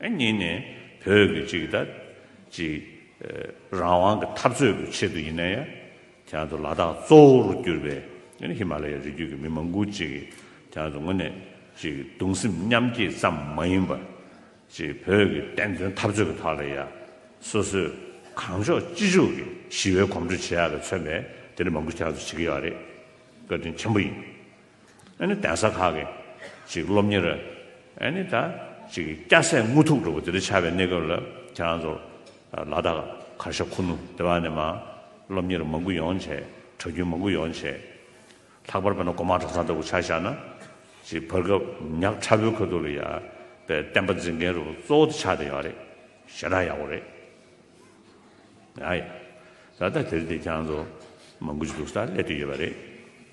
གཉིས་ནས་བོད་ཀྱི་གཅིག་དང་གཅིག་རང་དབང་གི་འཐབ་རྩོད་ཀྱི་ཆེད་དུ་ཡིན་ན་ཡང་དེང་དུ་ལ་དྭགས་གཙོ་བོར་གྱུར་པའི་ཧི་མ་ལ་ཡའི་རི་རྒྱུད་ཀྱི་མི་མང་པོ་གཅིག་གིས་དེང་དུ་དངོས་གནས་ཀྱི་གདུང་སེམས་མཉམ་བསྐྱེད་ཙམ་མ་ཡིན་པར། བོད་ཀྱི་བསྟན་དོན་འཐབ་རྩོད་ཀྱི་ཐོག་ལ་ཡང་སོ་སོས་གང་ལྕོགས་ཅི་ལྕོགས་ཀྱིས་ཞི་བའི་གོམ་བགྲོད་བྱེད་ཡག་གི་མཚོན་པའི་དེ་འདྲ་མང་པོ་དེང་དུ་བྱེད་ཀྱི་ཡོད་རེད། བཀའ་དྲིན་ཆེན་པོ་ཡིན། གདན་ས་ཁག་གི་སློབ་གཉེར་སྐྱ་སེར་དངུལ་ཐུག་འགྲོ་བ་འདི་འདྲ་ཆགས་པའི་གནས་སྐབས་ལ་ཁྱེད་རང་ཚོར་ལ་དྭགས་མཁར་ཤ་ཁུ་ནུ་སྡེ་བ་ནས་མ་སློབ་གཉེར་མང་པོ་ཡོང་བྱས་གྲྭ་རྒྱུན་མང་པོ་ཡོང་བྱས། ལྷག་པར་བོད་ན་གོ་མ་གྲྭ་ཚང་ལྟ་བུ་ཆགས་བཞག་ན། བར་སྐབས་ཉག་ཕྲ་བོའི་ཁོལ་དུ་ལ་ཡ་པའི་བསྟན་པ་འཛིན་མཁན་རུ་གཙོ་བོ་དེ་ཆགས་བསྡད་ཡོང་བ་རེད་ཞེ་ན་ཡག་པོ་རེད། ད་ལྟ་དེར་བལྟས་ཁྱེད་རང་ཚོ་མང་པོ་ཅིག་འདུག་ས་ལས་དེ་ཡོད་པ་རེད།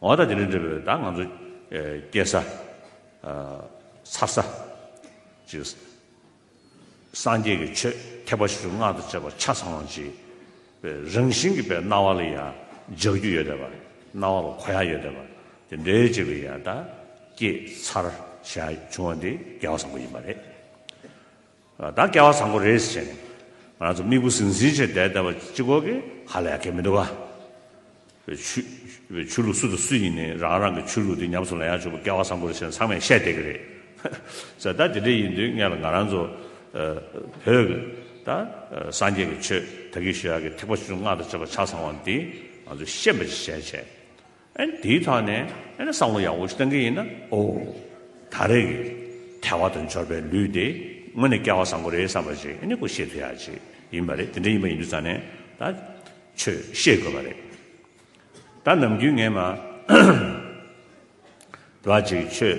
འོ་ད་དེ་རིང་འབྲེལ་བའི་བརྡ་ང་ཚོ་སྐྱེལ་ས། ཚར་ས། ཅིག། སངས་རྒྱས་ཀྱི་ཆོས་ཐེག་པ་ཆེ་ཆུང་སྔགས་དང་བཅས་པ་ཆ་ཚང་བ་ཅིག། རང་བཞིན་གྱི་བའི་སྣང་བ་ལ་ཡང་འཇགས་རྒྱུ་ཡོད་དེ་བ། སྣང་བ་ལ་གོ་ཡ་ཡོད་དེ་བ། དེ་འདྲའི་ཅིག་ལ་ཡང་བརྡ་སྐྱེལ་ཚར་ཞག་བྱུང་བ་འདི་རྒྱལ་བ་བཟང་པོ་ཡིན་པ་རེད། ད་སྐལ་བ་བཟང་པོ་རེད་ཟེར་ནས་ང་རང་ཚོ་དམིགས་བུ་ཟིང་ཟིང་བྱས་བསྡད་བསྡད་པ་ཅི་གོ་གི་ཧ་ལས་ཀྱི་མི་འདུག་ག། བའི་ཆུ། བའི་ཆོས་ལུགས་སུ་དང་སུ་ཡིན་ནི་རང་རང་གི་ཆོས་ལུགས་དེ་ཉམས་སུ་ལེན་ཡག་ཆོག་པ་སྐལ་བ་བཟང་པོ་རེད་ཟེར་ནས་ཚང་མས་བཤད་བསྡད་ཀྱི་རེད། ཧཧཧཧཧཧ། ད་དེ་འདྲ་ཡིན་དུས་ངས་ལ་ང་རང་ཚོ། བོད་ཀྱི། ད། སངས་རྒྱས་ཀྱི་ཆོས་ད་གིན་ཞུ་ཡག་གི་ཐེག་པ་ཆུང་ཆུང་སྔགས་དང་བཅས་པ་ཆ་ཚང་བ་འདི། ང་ཚོས་ཤེས་པ་ཅི་བྱས་བྱས། ཨན། དེའི་ཐག་ནས་ཨེ་ན་བསམ་བློ་ཡག་པོ་ཞིག་གཏང་གི་ཡིན་ན། ཨོ། ད་རེས་ཀྱི་ཐལ་བ་དང་འབྱོར་པའི་ལུས་དེ་དངོས་ནས་སྐལ་བ་བཟང་པོ་རེད་བསམ་པ་ཞིག་ཨེ་ནི་ཀུ་ཤེས་ཐུ་ཡག་ཅིག་ཡིན་པ་རེད་དེ་འདྲ་ཡིན་པ་ཡིན་དུས་ཙང་ནས་ད་ཆོས་བཤད་དགོས་པ་རེད། ད་ནམ་རྒྱུན་ངས་མ། འདི་བ་ཅིག་ཆོས།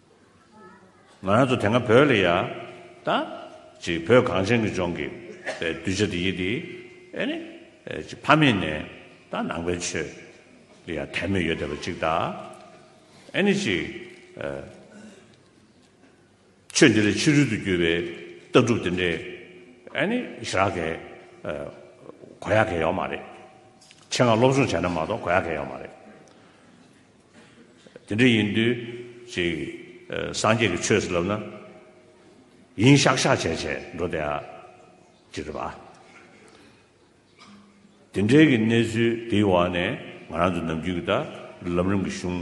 ང་རང་ཚོ་དེ་སྔ་བོད་ལ་ཡ། ད། ཅིག་བོད་གངས་ཅན་གྱི་ལྗོངས་ཀྱི། གདུལ་བྱ་དེ་ཡིད་དེ། ཨེ་ནི། ཅིག་ཕ་མེས་ནས། ད་ནང་པའི་ཆོས། ལ་ཡང་དད་མོས་ཡོད་བསྡད་པ་ཅིག་ད། ཨེ་ནི་ཅིག། ཆོས་འདི་ལ་ཕྱི་རོལ་དུ་གྱུར་པའི། ལྟ་གྲུབ་དེ་འདྲའི། ཨེ་ནི། ཞི་རགས་གས། གོ་ཡག་གས་ཡོག་མ་རེད། ཆེད་མངགས་སློབ་སྦྱོང་བྱས་ན་མ་གཏོགས་གོ་ཡག་གས་ཡོག་མ་རེད། དེ་འདྲ་ཡིན་དུས་ཅིག་སངས་རྒྱས་ཀྱི་ཆོས་སུ་ལབ་ན། ཡིན་ཤག་ཤག་བྱས་བྱས་འགྲོ་བསྡད་ཨ། ཅེས་རེད་པཱ། དེ་འདྲའི་གི་གནས་ཚུལ་དེའི་འོག་ནས་ང་རང་ཚོ་ནམ་རྒྱུན་གི་ད་ལམ་རིམ་གི་གཞུང་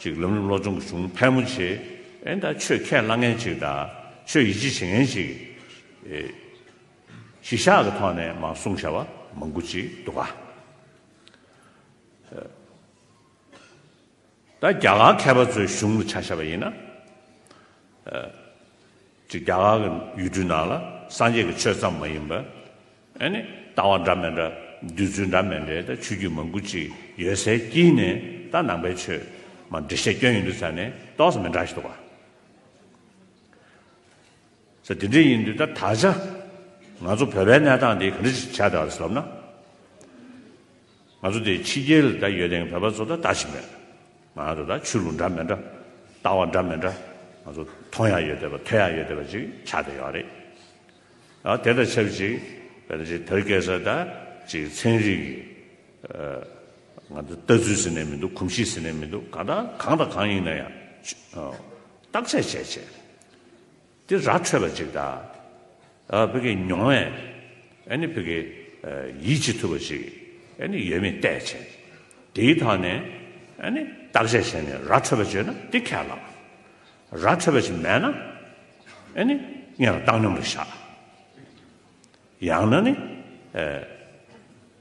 ཅིག་ལམ་རིམ་སློབ་སྦྱོང་གི་གཞུང་ཕལ་མོ་ཆེ་ཨེ་ད་ཆོས་ཁས་བླངས་མཁན་ཅིག་ད་ཆོས་ཡིད་ཆེས་བྱེད་མཁན་ཅིག་གིས་གཞི་བཞག་གི་ཐོག་ནས་མང་གསུང་བྱ་བ་མང་པོ་ཅིག་འདུག་ཨ། ད་རྒྱ་གར་མཁས་པ་ཚོའི་གཞུང་དུ་ཆ་ཤས་པ་ཡིན་ན། ཅིག་རྒྱ་གར་གྱི་ཡུལ་གྲུའི་ནང་ལ་སངས་རྒྱས་ཀྱི་ཆོས་ཙམ་མ་ཡིན་པར། ཨཱ་ནི། ལྟ་བ་འདྲ་མི་འདྲ། བསྡུས་ཚུལ་འདྲ་མི་འདྲའི་ད་ཆོས་བརྒྱུད་མང་པོ་ཅིག་ཡོད་སའི་དཀྱིལ་ནས་ད་ནང་པའི་ཆོས་མ་འབྲི་ཤེས་སྐྱོན་ཡིན་དུས་ད་ནི་རྟོགས་ས་མི་འདྲ་ཞིག་འདུག་བ། ས་དེ་འདྲའི་ཡིན་དུས་ད་ད་ཆ་ང་ཚོ་བོད་པའི་གནས་སྟངས་འདི་ག་འདྲ་ཞིག་བྱས་འདྲ་བ་རེད་ལབ་ན། ང་ཚོ་འདི་ཕྱི་རྒྱལ་ད་ཡོད་དེང་བོད་པ་ཚོ་ད་ལྟ་ཞིག་མེད། ང་ཚོ་ད་ཆོས་ལུགས་འདྲ་མི་འདྲ། ལྟ་བ་འདྲ་མི་འདྲ། ང་ཚོ་མཐོང་ཡག་ཡོད་དེ་བ་ཐོས་ཡག་ཡོད་དེ་བ་ཅིག་ཆགས་ཏེ་ཡོད་རེད། ཨ་དེ་དང་ཆབས་ཅིག་བོད་ན་ཅིག་བོད་སྐད་ས་ད་ཅིག་ཚན་རིག་གི་ང་ཚོ་ལྟ་ཚུལ་ཟེར་ནས་མི་འདུག་གོམས་གཤིས་ཟེར་ནས་མི་འདུག་གང་ལྟར་གང་དང་གང་ཡིན་ན་ཡང་བརྟག་དཔྱད་བྱས་བྱས། དེ་ར་འཕྲོད་པ་ཅིག་དང། བི་གའི་མྱོང་བས་ནི་བི་གའི་ཡིད་ཆེས་ཐུབ་པ་ཞིག་ནི་ཡོད་མེད་བལྟས་བྱས། དེའི་ཐོག་ནས་ནི་བརྟག་དཔྱད་བྱས་ནས་ར་འཕྲོད་པ་བརྗོད་ན་དེ་ཁས་བླངས། ར་འཕྲོད་པ་ཞིག་མེད་ན་ནི་ངས་བཏང་སྙོམས་ལ་བཞག། ཡང་ན་ནི།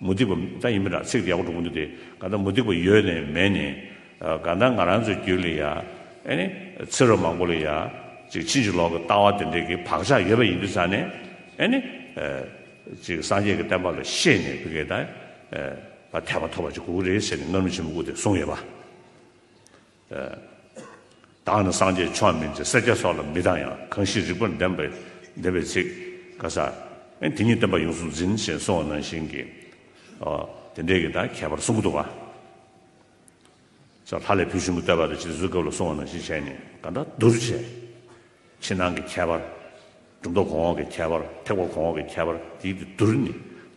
མུ་སྟེགས་པ་ད་ཡིན་མིན་དྲག་ཚིག་དེ་ཡག་པོ་འགྲོ་གི་འདུག་དེ་ག་ད་མུ་སྟེགས་པ་ཡོད་ནས་མེད་ནས་ག་ད་ང་རང་ཚོའི་རྒྱུད་ལ་ཡ་ཨེ་ནི་ཚེ་རབས་མང་པོ་ལ་ཡ་ཅིག་ཕྱིན་ཅི་ལོག་གི་ལྟ་བ་དེ་འདྲས་ཀྱི་བག་ཆགས་ཡོད་པ་ཡིན་དུས་ས་ནས་ཨེ་ནི་ཅིག་སངས་རྒྱས་ཀྱི་བསྟན་པ་ལ་ཤེས་ནས་བུ་གས་ད་ད་དད་པ་ཐོབ་པ་ཅིག་དགོས་ཀྱི་རེད་ཟེར་ནས་ངར་མི་ཆེན་པོ་སྐུ་དེ་གསུངས་ཡོད་པ། བདག་ནི་སངས་རྒྱས་ཆོས་མིན་ཅེས་སེར་སྐྱ་སོགས་ལ་མི་བལྟ་ཡང་གང་ཞིག་རིགས་པར་ལྡན་པའི་བདེན་པའི་ཚིག། ཀ་ས། དེ་ཉིད་བསྟན་པ་ཡོངས་སུ་འཛིན་ཞེས་གསུང་བ་ནང་བཞིན་གྱི། དེ་འདྲའི་གྱི་དང་ཁྱད་པར་གསུམ་པོ་འདུག་པ། སོགས་ལྷ་ལས་བུ་ཆུང་གི་བསྟོད་པ་དང་བཅས་གཟུགས་སྐབས་ལ་གསུང་བ་ནང་བཞིན་བྱས་ནས་གང་འདྲ་བསྡུར་བྱས། ཕྱི་ནང་གི་ཁྱད་པར། གྲུབ་མཐའ་གོང་འོག་གི་ཁྱད་པར་ཐེག་པ་གོང་འོག་གི་ཁྱད་པར་དེ་ཡིག་ཏུ་བསྡུར་ནས་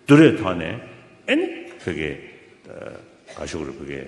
བསྡུར་རེས་ཐོག་ནས། ཨེ་ནི། བུ་གའི། ག་ཤོག་རེ་བུ་གའི།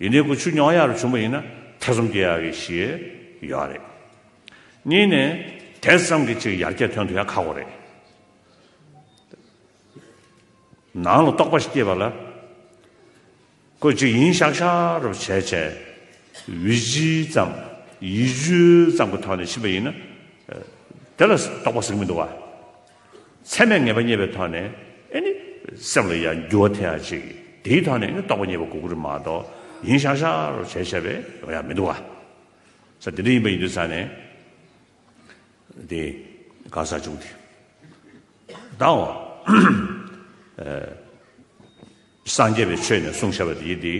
ཡིན་ནའི་ཁུ་བྱུག་ཉོག་ཡ་རུ་བྱུང་བ་ཡིན་ན་ཐེ་ཚོམ་སྐྱེ་ཡག་གི་ཞེས་ཡོད་རེད། གཉིས་ནས་དེ་ཙམ་གྱི་ཅིག་ཡར་རྒྱས་ཐོན་དུ་ཡང་ཁག་པོ་རེད། ནང་ལ་རྟོག་པ་ཞིག་སྐྱེས་པ་ལ། ཁོས་ཅིག་ཡིན་ཤག་ཤག་རུ་བྱས་བྱས་བི་ཇི་ཙམ་ཡིད་སྤྱོད་ཙམ་གྱི་ཐོག་ནས་ཕྱིན་པ་ཡིན་ན། དེ་ལ་རྟོག་པ་ཟིག་མི་འདུག་བ། ཚད་མས་ངེས་པ་རྙེད་པའི་ཐོག་ནས་ནི། སེམས་ལ་ཡང་འགྱུར་བ་ཐེ་ཡང་གཅིག། དེའི་ཐོག་ནས་ནི་རྟོགས་པ་རྙེད་པ་གུ་གུ་རུ་མ་གཏོགས། ཡིན་ཤག་ཤག་རོ་བྱས་བྱས་པས་ཡང་མི་འདུག་ག། ས་དེ་འདྲ་ཡིན་པ་ཡིན་དུས་ས་ནས། དེ་གང་ཟག་བྱུང་དེ་བདག་འོ། སངས་རྒྱས་པའི་ཆོས་ནས་གསུང་བྱ་བ་དེའི་དེ།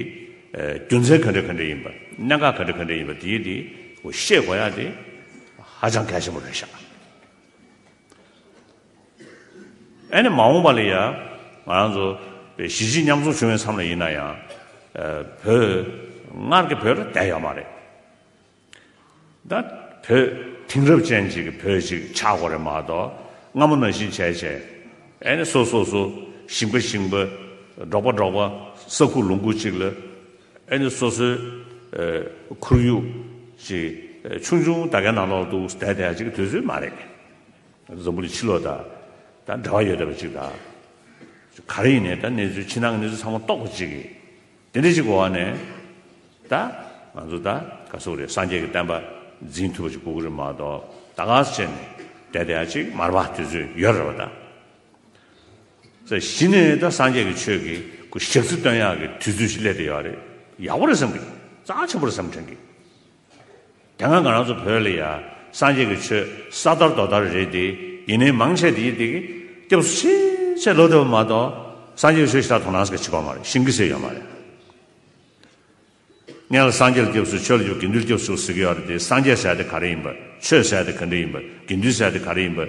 རྒྱུ་མཚན་ག་འདྲ་ག་འདྲ་ཡིན་པ། གནད་འགག་ག་འདྲ་ག་འདྲ་ཡིན་པ་དེའི་དེ། ཤེས་དགོས་ཡ་དེ། ཧ་ཅང་གལ་ཆེན་པོ་རེད་ཤག། ཨ་ནི་མ་འོངས་པ་ལ་ཡང་ང་རང་ཚོ་གཞིས་བྱེས་མཉམ་འཛོམས་བྱུང་བའི་མཚམས་ལ་ཡིན་ན་ཡང་བོད་སྔར་གྱི་བོད་ལ་བསྡད་ཡོད་མ་རེད། ད་བོད་དེང་རབས་ཅན་ཅིག་གི་བོད་ཅིག་ཆགས་དགོས་རེད་མ་གཏོགས་སྔ་མོ་ན་བཞིན་བྱས་བྱས་ཨ་ནི་སོ་སོ་སོ་ཞིང་པ་ཞིང་པ་འབྲོག་པ་འབྲོག་པ་ས་ཁུག་ལུང་ཁུག་ཅིག་ལ་ཨེ་ནི་སོ་སོའི་ཁོར་ཡུག་ཅིག་ཆུང་ཆུང་ད་གའི་ནང་ནོར་འདུག་ཟླ་དེ་ཡང་ཅིག་དུས་ཚོད་མ་རེད། འཛམ་བུ་ལི་ཕྱི་ལོག་དང་འདྲ་བ་ཡོད་ད་པ་ཅིག་དང། ག་རེ་ཡིན་ནའི་ད་གནས་ཚུལ་ཕྱི་ནང་གི་གནས་ཚུལ་ཚང་མ་རྟོགས་པ་ཅིག་གིས་དེ་འདྲ་ཅིག་གི་འོག་ནས་ད་ང་ཚོ་ད་ག་སུ་རེད་སངས་རྒྱས་ཀྱི་བསྟན་པ་འཛིན་ཐུབ་པ་ཅིག་གོ་གི་རེད་མ་གཏོགས་ད་ག་ཚོད་ནས་ཟླ་དེ་ཡང་ཅིག་མར་པ་དུས་ཚོད་ཡོད་རེད་པ་ད། ཚེ་གཞི་ནས་ད་སངས་རྒྱས་ཀྱི་ཆོས་ཀྱི་སྐུ་ཞག་ཚི་སྟོན་ཡག་གི་དུས་ཚོད་ཞིག་སླེབས་དེ་ཡག་རེད་ཡག་པོ་རེད་བསམ་གི་ཙང་ཆེན་པོ་རེད་བསམ་དྲན་གི་དེ་སྔ་ང་རང་ཚོ་བོད་ལ་ཡ་སངས་རྒྱས་ཀྱི་ཆོས་ས་དར་རྡོ་དར་རེད་དེ་ཡིན་ནའི་མང་ཆེ་དེ་ཡིན་དེ་གི་སྐྱབས་སུ་ཆེས་ཆེས་ལོ་ཏོ་བ་མ་གཏོགས་སངས་རྒྱས་ཀྱི་ཆོས་ཞིག་ད་དོ་ནང་སྐད་ཆི་པ་མ་རེད་ཤིང་གི་ཟེར་ཡོད་མ་རེད། གནས་ལ་སངས་རྒྱས་ལ་སྐྱབས་སུ་ཆོས་ལ་འཇུག་དགེ་འདུན་ལ་སྐྱབས་སུ་ཟུག་ཟེར་གི་ཡོད་རེད་དེ་སངས་རྒྱས་ཟེར་དེ་ག་རེ་ཡིན་པ་ཆོས་ཟེར་དེ་ག་འདྲེ་ཡིན་པ་དགེ་འདུན་ཟེར་དེ་ག་རེ་ཡིན་པ།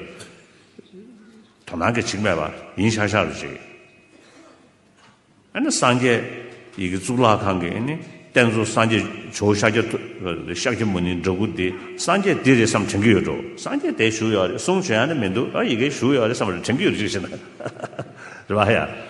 དོ་སྣང་གི་ཆིག་མེད་པ་ཡིན་ཤག་ཤག་རེད་ཅེས། ཨ་ནི་སངས་རྒྱས་ཡི་གེ་གཙུག་ལག་ཁང་གི་ཨ་ནི་རྟེན་གཙོ་སངས་རྒྱས་ཇོ་ཤཱཀྱ་ཐུབ་ཤཱཀྱ་མུ་ནིའི་འདྲ་སྐུ་དེ་སངས་རྒྱས་འདི་རེད་བསམ་དྲན་གི་ཡོད་འགྲོ་སངས་རྒྱས་དེ་བཞུགས་ཡོད་རེད་གསུང་བྱས་ཡ་ནི་མི་འདུག་ཡི་གེ་བཞུགས་ཡོད་རེད་བསམ་རེད་དྲན་གི་ཡོད་རེད་ཅིག་བྱས་ན་རེད་བ་ཡ།